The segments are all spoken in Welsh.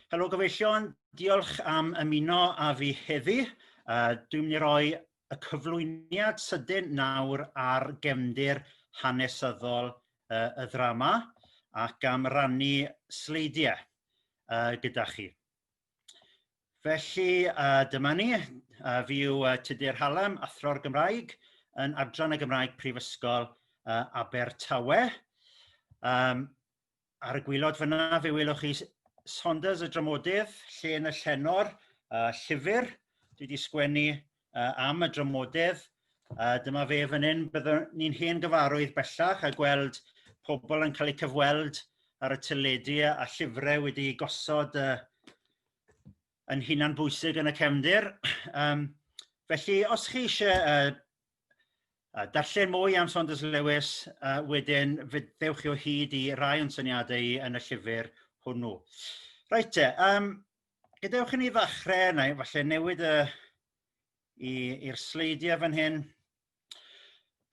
Helo gyfeillion diolch am ymuno â fi heddi yy dwi'n mynd i roi y cyflwyniad sydyn nawr ar gefndir hanesyddol yy y ddrama ac am rannu sleidiau yy gyda chi. Felly yy dyma ni a fi yw yy Tudur Hallam athro'r Gymraeg yn adran y Gymraeg Prifysgol yy Abertawe yym ar y gwylod fynna fe welwch chi Saunders y dramodydd llên y llenor yy llyfyr dwi 'di sgwennu yy am y dramodedd a dyma fe fan hyn byddwn ni'n hen gyfarwydd bellach a gweld pobol yn cael eu cyfweld ar y teledu a llyfre wedi gosod yy yn hunan bwysig yn y cefndir yym felly os chi eisiau yy a darllen mwy am Saunders Lewis a wedyn ddewch chi o hyd i rai o'n syniadau yn y llyfr hwnnw. Reit te yym gadewch i ni ddechrau neu efallai newid y i i'r sleidiau fan hyn.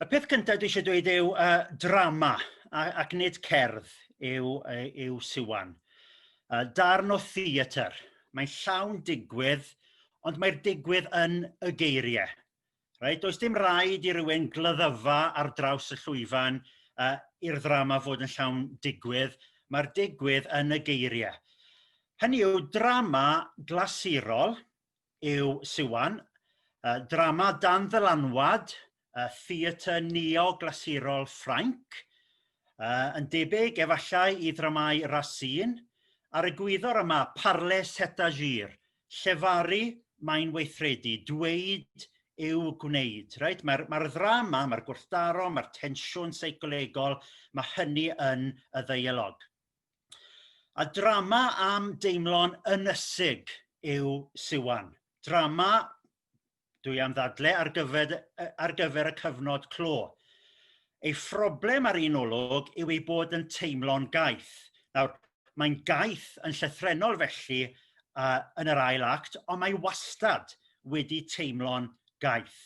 Y peth cyntaf dwi eisiau dweud yw uh, drama a, ac nid cerdd yw, yw Siwan. Uh, darn o theatr. Mae'n llawn digwydd ond mae'r digwydd yn y geiriau. reit does dim raid i rywun glyddyfa ar draws y llwyfan yy i'r ddrama fod yn llawn digwydd mae'r digwydd yn y geirie hynny yw drama glasurol yw Siwan yy drama dan ddylanwad y theatr neo-glasurol Ffrainc uh, yn debyg efallai i ddramau Racine a'r egwyddor yma parle c'est agir llefaru mae'n weithredu dweud yw gwneud reit mae'r mae'r ddrama mae'r gwrthdaro mae'r tensiwn seicolegol ma' hynny yn y ddeialog. A drama am deimlo'n ynysig yw Siwan. Drama dwi am ddadle ar gyfer yy ar gyfer y cyfnod clo ei phroblem ar un olwg yw ei bod yn teimlo'n gaeth nawr mae'n gaeth yn llythrennol felly a yn yr ail act ond mae wastad wedi teimlo'n gaeth.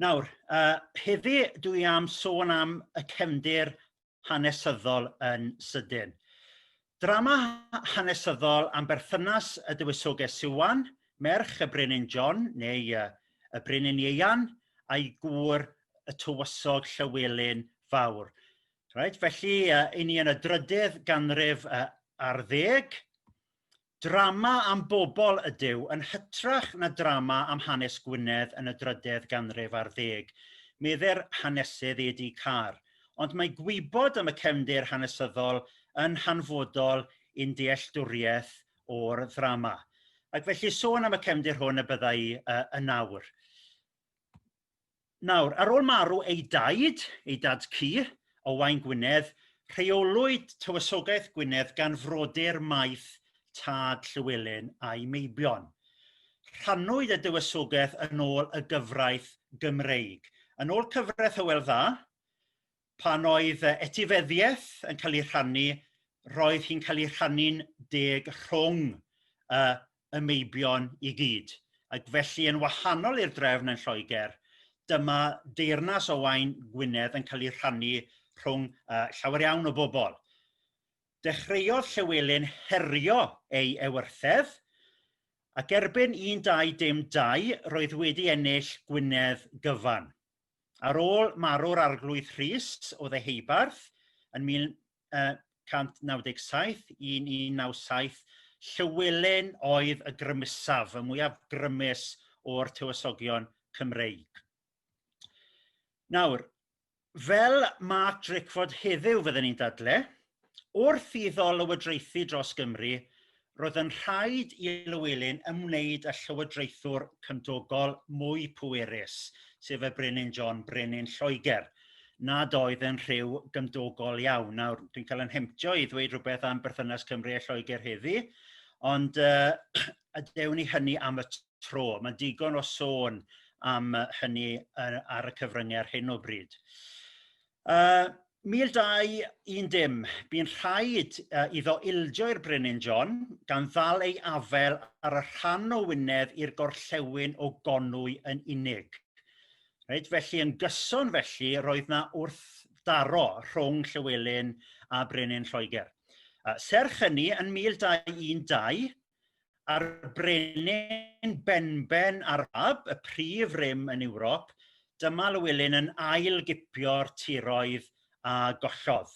Nawr yy heddi' dwi am sôn am y cefndir hanesyddol yn sydyn. Drama hanesyddol am berthynas y dywysoges Siwan, merch y Brenin John neu y y Brenin Ieuan a'i gŵr y tywysog Llywelyn Fawr. Reit felly i ni yn y drydydd ganrif ar ddeg Drama am bobol ydyw yn hytrach na drama am hanes Gwynedd yn y drydedd ganrif ar ddeg, medde'r hanesydd E. D. Carr, ond mae gwybod am y cefndir hanesyddol yn hanfodol i'n dealltwriaeth o'r ddrama. Ac felly sôn am y cefndir hwn y bydda i yn awr. Nawr ar ôl marw ei daid ei dad-cu Owain Gwynedd rheolwyd Tywysogaeth Gwynedd gan frodyr maeth tad Llywelyn a'i meibion. Rhannwyd y Dywysogaeth yn ôl y gyfraith Gymreig. Yn ôl cyfraith Hywel Dda pan oedd yy etifeddiaeth yn ca'l ei rhannu roedd hi'n ca'l ei rhannu'n deg rhwng y y meibion i gyd ac felly yn wahanol i'r drefn yn Lloeger dyma deyrnas o wain Gwynedd yn ca'l ei rhannu rhwng yy llawer iawn o bobol. Dechreuodd Llywelyn herio ei ewythr ac erbyn un dau dim dau roedd wedi ennill Gwynedd gyfan. Ar ôl marw'r Arglwydd Rhys o Ddeheubarth yn 1197 un un naw saith Llywelyn oedd y grymusaf y mwyaf grymus o'r tywysogion Cymreig. Nawr fel Mark Drakeford heddyw fydden ni'n dadle' wrth iddo lywodraethu dros Gymru roedd yn rhaid i Lywelyn ymwneud â llywodraethwr cymdogol mwy pwerus sef y brenin John brenin Lloeger nad oedd yn rhyw gymdogol iawn nawr dwi'n cael yn hemptio i ddweud rhywbeth am berthynas Cymru a Lloegr heddi ond uh, a dewn ni hynny am y tro mae'n digon o sôn am hynny ar y cyfryngau ar hyn o bryd. Yy 1210 bu'n rhaid iddo ildio i'r Brenin John gan ddal ei afel ar y rhan o Wynedd i'r gorllewin o Gonwy yn unig. Reit felly yn gyson felly roedd 'na wrthdaro rhwng Llywelyn a brenin Lloeger. Serch hynny yn 1212 a'r brenin benben ar fab y prif rym yn Ewrop dyma Lywelyn yn ail gipio'r tiroedd a gollodd.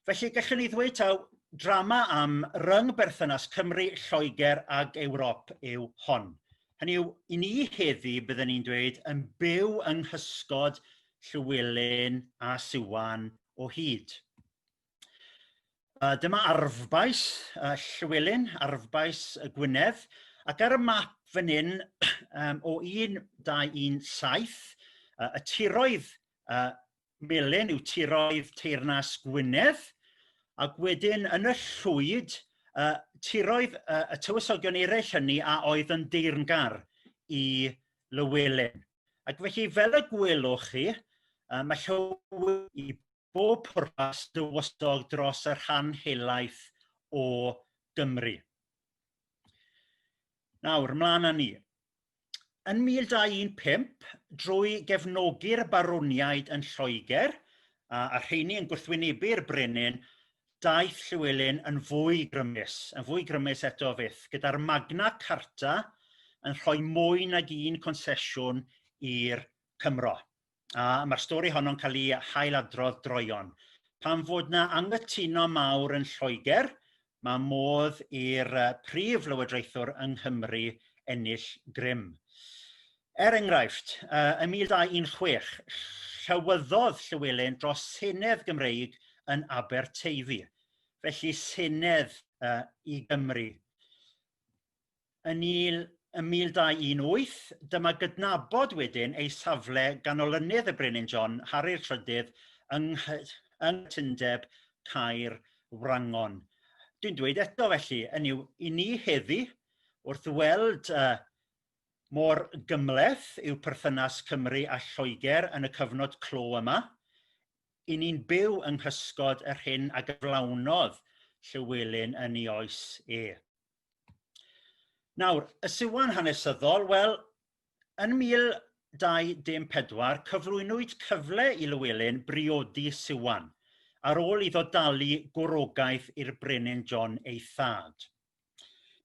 Felly gallwn ni ddweud taw drama am ryng berthynas Cymru, Lloegr ag Ewrop yw hon. Hynny yw, i ni heddi byddwn ni'n dweud yn byw yng nghysgod Llywelyn a Siwan o hyd. Yy dyma arfbais y Llywelyn arfbais y Gwynedd ac ar y map fan 'yn yym o 1917 yy y tiroedd yy melyn yw tiroedd teyrnas Gwynedd ac wedyn yn y llwyd y tiroedd yy y tywysogion eraill hynny a oedd yn deyrngar i Lywelyn ac felly fel y gwelwch chi yy ma' Llyw- bob pwrpas dywysog dros y rhan helaeth o Gymru. Nawr mlan a ni. Yn 1215 drwy gefnogi'r barwniaid yn Lloegr a, a rheini yn gwrthwynebu'r brenin daeth Llywelyn yn fwy grymus yn fwy grymus eto fyth gyda'r Magna Carta yn rhoi mwy nag un consesiwn i'r Cymro. a ma'r stori honno'n ca'l i hail-adrodd droeon pan fod 'na anghytuno mawr yn Lloeger ma' modd i'r yy prif lywodraethwr yng Nghymru ennill grym. Er enghraifft yy ym 1916 llywyddodd Llywelyn dros senedd Gymreig yn Aberteifi felly senedd yy i Gymru. yn il yn 1218 dyma gydnabod wedyn ei safle gan olynydd y Brenin John Harri'r Trydydd yng nghy- yng nghytundeb Caer Wrangon. Dwi'n dweud eto felly yn yw i ni heddi wrth weld uh, mor gymleth yw perthynas Cymru a Lloegr yn y cyfnod clo yma, i ni'n byw yng nghysgod yr hyn a gyflawnodd Llywelyn yn ei oes e. Nawr y siwan hanesyddol wel yn 1214 cyflwynwyd cyfle i Lywelyn briodi Siwan ar ôl iddo dalu gwrogaeth i'r brenin John ei thad.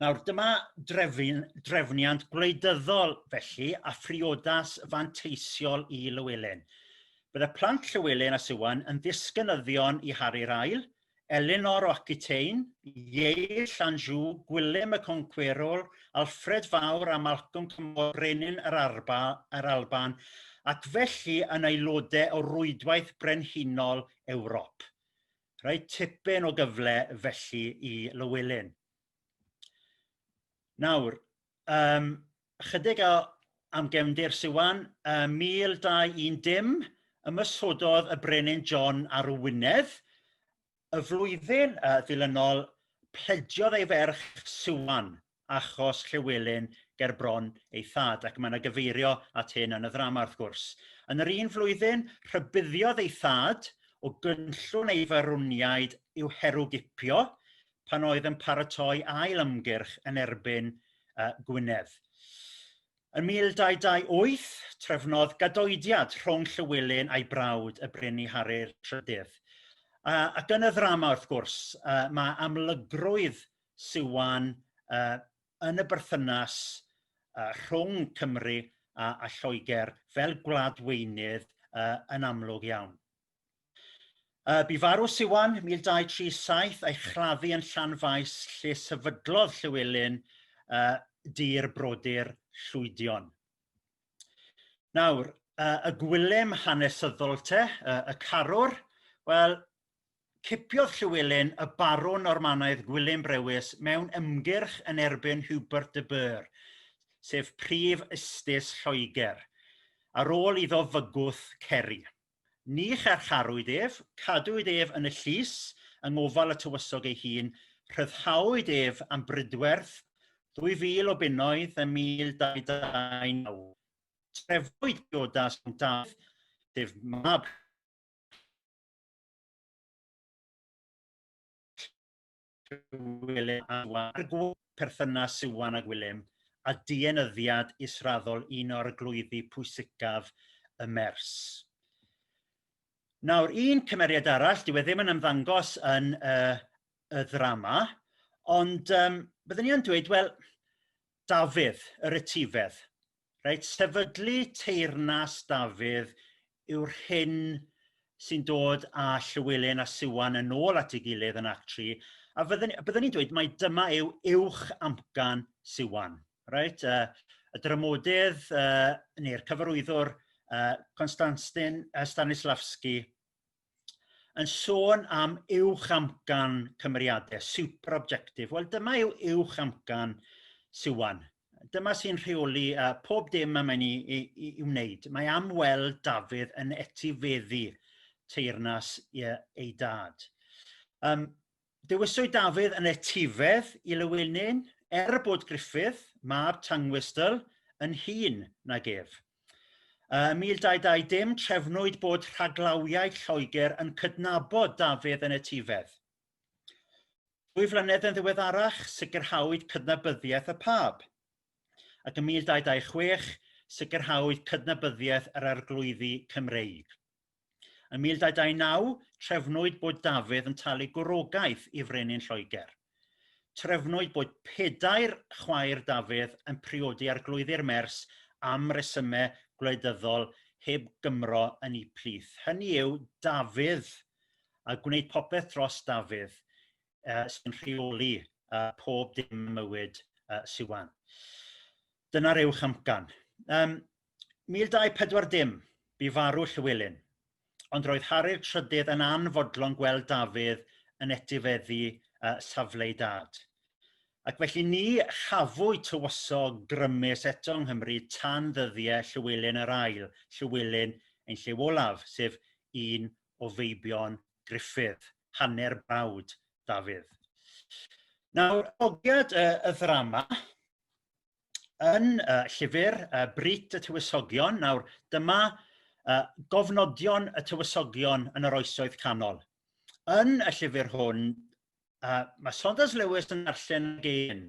Nawr dyma drefn, drefniant gwleidyddol felly a phriodas fanteisiol i Lywelyn. Bydd y plant Llywelyn a Siwan yn ddisgynyddion i Harri'r Ail Elinor o Aquitaine, Ieill Anjou, Gwilym y Concwerwr, Alfred Fawr a Malcolm Cymorth Brenin yr yr Alban ac felly yn aelodau o Rwydwaith Brenhinol Ewrop. Rhaid tipyn o gyfle felly i Lywelyn. Nawr, um, ychydig o am gefndir Siwan ym 1210 ymoshododd y brenin John ar Wynedd y flwyddyn yy ddilynol plediodd ei ferch Siwan achos Llywelyn ger bron ei thad ac mae 'na gyfeirio at hyn yn y ddrama wrth gwrs. Yn yr un flwyddyn rhybuddiodd ei thad o gynllun ei farwniaid i'w herwgipio pan oedd yn paratoi ail ymgyrch yn erbyn yy Gwynedd. Yn 1228 trefnodd gadoediad rhwng Llywelyn a'i brawd y Brenin Harri'r Trydydd a, ac yn y ddrama wrth gwrs uh, mae amlygrwydd Siwan uh, yn y berthynas uh, rhwng Cymru a, a Lloegr fel gwladweinydd uh, yn amlwg iawn. Yy bu farw Siwan 1237 a'i chladdu yn Llanfaes lle sefydlodd Llywelyn yy dir brodyr Llwydion. Nawr yy y gwilym hanesyddol te yy y carwr wel cipiodd Llywelyn y barwn Normanaidd Gwilym Brewis mewn ymgyrch yn erbyn Hubert de Burgh sef prif ustus Lloegr ar ôl iddo fygwth Ceri. Ni charcharwyd ef, cadwyd ef yn y llys yng ngofal y tywysog ei hun, rhyddhawyd ef am brydwerth, 2,000 o bunnoedd ym 1229. Trefwyd priodas rhwng Dafydd, sef mab Gwilym a Siwan a'r gŵr, perthynas Siwan a Gwilym a dienyddiad israddol un o arglwyddi pwysicaf y Mers. Nawr un cymeriad arall dyw e ddim yn ymddangos yn y, y ddrama ond yym byddwn ni yn dweud wel Dafydd yr etifedd reit sefydlu teyrnas Dafydd yw'r hyn sy'n dod a Llywelyn a Siwan yn ôl at ei gilydd yn act tri a fyddwn a byddwn i'n dweud mai dyma yw uwch amcan Siwan reit yy y dramodydd yy neu'r cyfarwyddwr yy Constantin yy Stanislavski yn sôn am uwch amcan cymeriade super objective wel dyma yw uwch amcan Siwan dyma sy'n rheoli yy pob dim y mae'n i i i i wneud mae am weld Dafydd yn etifeddu teyrnas ei dad. Yym. Dewiswyd Dafydd yn etifedd i Lewinin er bod Griffith, mab Tangwystl, yn hŷn nag ef. Ym 1220 trefnwyd bod rhaglawiaid Lloegr yn cydnabod Dafydd yn etifedd. Dwy flynedd yn ddiweddarach sicrhawyd cydnabyddiaeth y Pab ac ym 1226 sicrhawyd cydnabyddiaeth yr Arglwyddi Cymreig. Yn 1229 trefnwyd bod Dafydd yn talu gwrogaeth i frenin Lloeger. Trefnwyd bod pedair chwaer Dafydd yn priodi Arglwyddi'r Mers am resyme gwleidyddol heb Gymro yn eu plith hynny yw Dafydd a gwneud popeth dros Dafydd uh, sy'n rheoli uh, pob dim mywyd uh, Siwan. Dyna'r uwch amcan. Yym 1240 bu farw Llywelyn ond roedd Harri'r trydydd yn anfodlon gweld Dafydd yn etifeddu yy safle ei dad ac felly ni chafwyd tywysog grymus eto yng Nghymru tan ddyddie Llywelyn yr ail, Llywelyn ein lliw olaf, sef un o feibion Gruffydd, hanner brawd Dafydd. Nawr, ogiad y, y ddrama, yn y llyfr yy Brut y Tywysogion nawr dyma yy gofnodion y tywysogion yn yr oesoedd canol. Yn y llyfr hwn yy ma' Saunders Lewis yn darllen gêm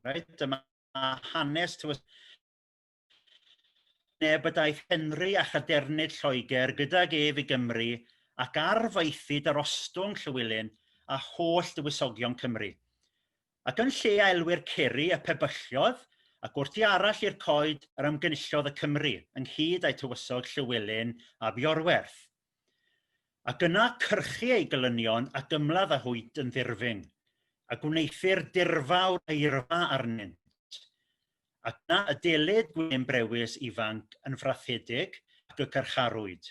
reit dyma hanes tywys- neb y daeth Henry a chadernid Lloeger gydag ef i Gymru ac ar faethid yr ostwng Llywelyn a holl dywysogion Cymru ac yn lle a elwir Ceri y pebyllodd ac wrth i arall i'r coed yr ymgynullodd y Cymry ynghyd a'u tywysog Llywelyn ab Iorwerth ac yna cyrchu ei gelynion ac ymladd a hwynt yn ddirfyng a gwneuthur dirfawr eirfa arnynt ac yna y delid gwên brewis ifanc yn frachedig ac y carcharwyd.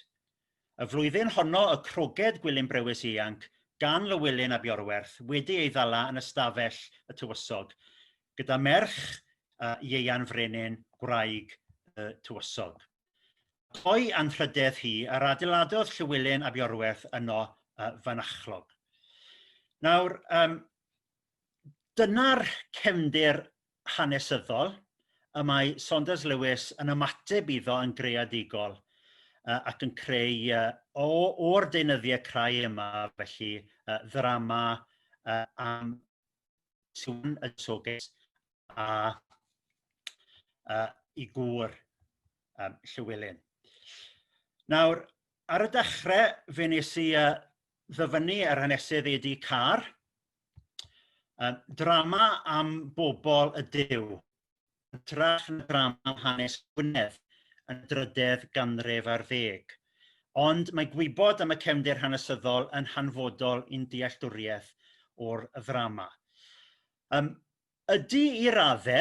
Y flwyddyn honno y croged gwilym brewis ianc gan Lywelyn ab Iorwerth wedi ei ddala yn ystafell y tywysog gyda merch uh, Ieuan Frenin, gwraig y tywysog. Co'i anrhydedd hi a'r adeiladodd Llywelyn ab Iorwerth yno uh, fanachlog. Nawr, um, dyna'r cefndir hanesyddol y mae Saunders Lewis yn ymateb iddo yn greadigol yy ac yn creu yy o o'r deunyddiau crai yma felly yy ddrama yy am sŵn y togys a uh, i gŵr um, Llywelyn. Nawr, ar y dechrau fe nes i uh, ddyfynnu yr hanesydd Eddie Carr yy drama am bobol ydyw yn hytrach na drama am hanes Gwynedd yn y drydedd ganrif ar ddeg ond mae gwybod am y cefndir hanesyddol yn hanfodol i'n dealltwriaeth o'r ddrama. Yym ydy i radde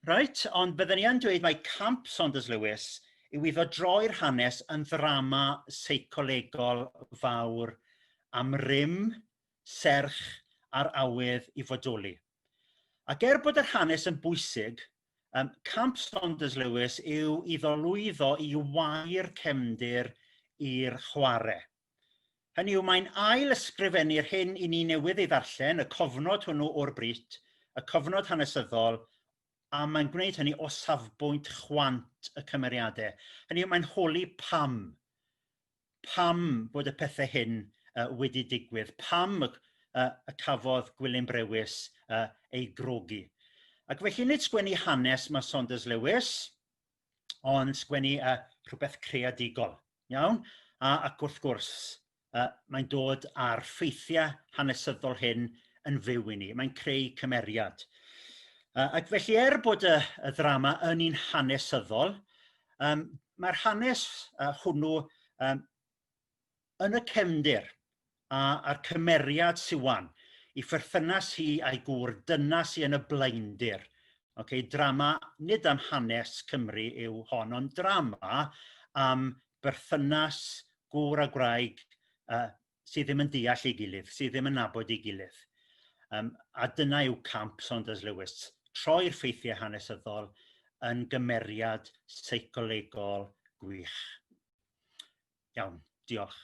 reit ond bydden i yn dweud mae camp Saunders Lewis yw iddo droi'r hanes yn ddrama seicolegol fawr am rym serch a'r awydd i fodoli. Ac er bod yr hanes yn bwysig yym camp Saunders Lewis yw iddo lwyddo i wau'r cefndir i'r chware. Hynny yw mae'n ail ysgrifennu'r hyn i ni newydd ei ddarllen, y cofnod hwnnw o'r Brit, y cofnod hanesyddol, a mae'n gwneud hynny o safbwynt chwant y cymeriadau. Hynny yw mae'n holi pam pam bod y pethe hyn yy wedi digwydd pam y y y cafodd Gwilym Brewis yy ei grogi ac felly nid sgwennu hanes ma' Saunders Lewis ond sgwennu yy rhywbeth creadigol iawn a ac wrth gwrs yy mae'n dod â'r ffeithiau hanesyddol hyn yn fyw i ni mae'n creu cymeriad yy ac felly er bod y y ddrama yn un hanesyddol yym mae'r hanes yy hwnnw yym yn y cefndir a a'r cymeriad Siwan i pherthynas hi a'i gŵr dyna sy' yn y blaendir oce drama nid am hanes Cymru yw hon ond drama am berthynas gŵr a gwraig yy sydd ddim yn deall ei gilydd, sydd ddim yn nabod ei gilydd. Um, a dyna yw camp Saunders Lewis, troi'r ffeithiau hanesyddol yn gymeriad seicolegol gwych. Iawn, diolch.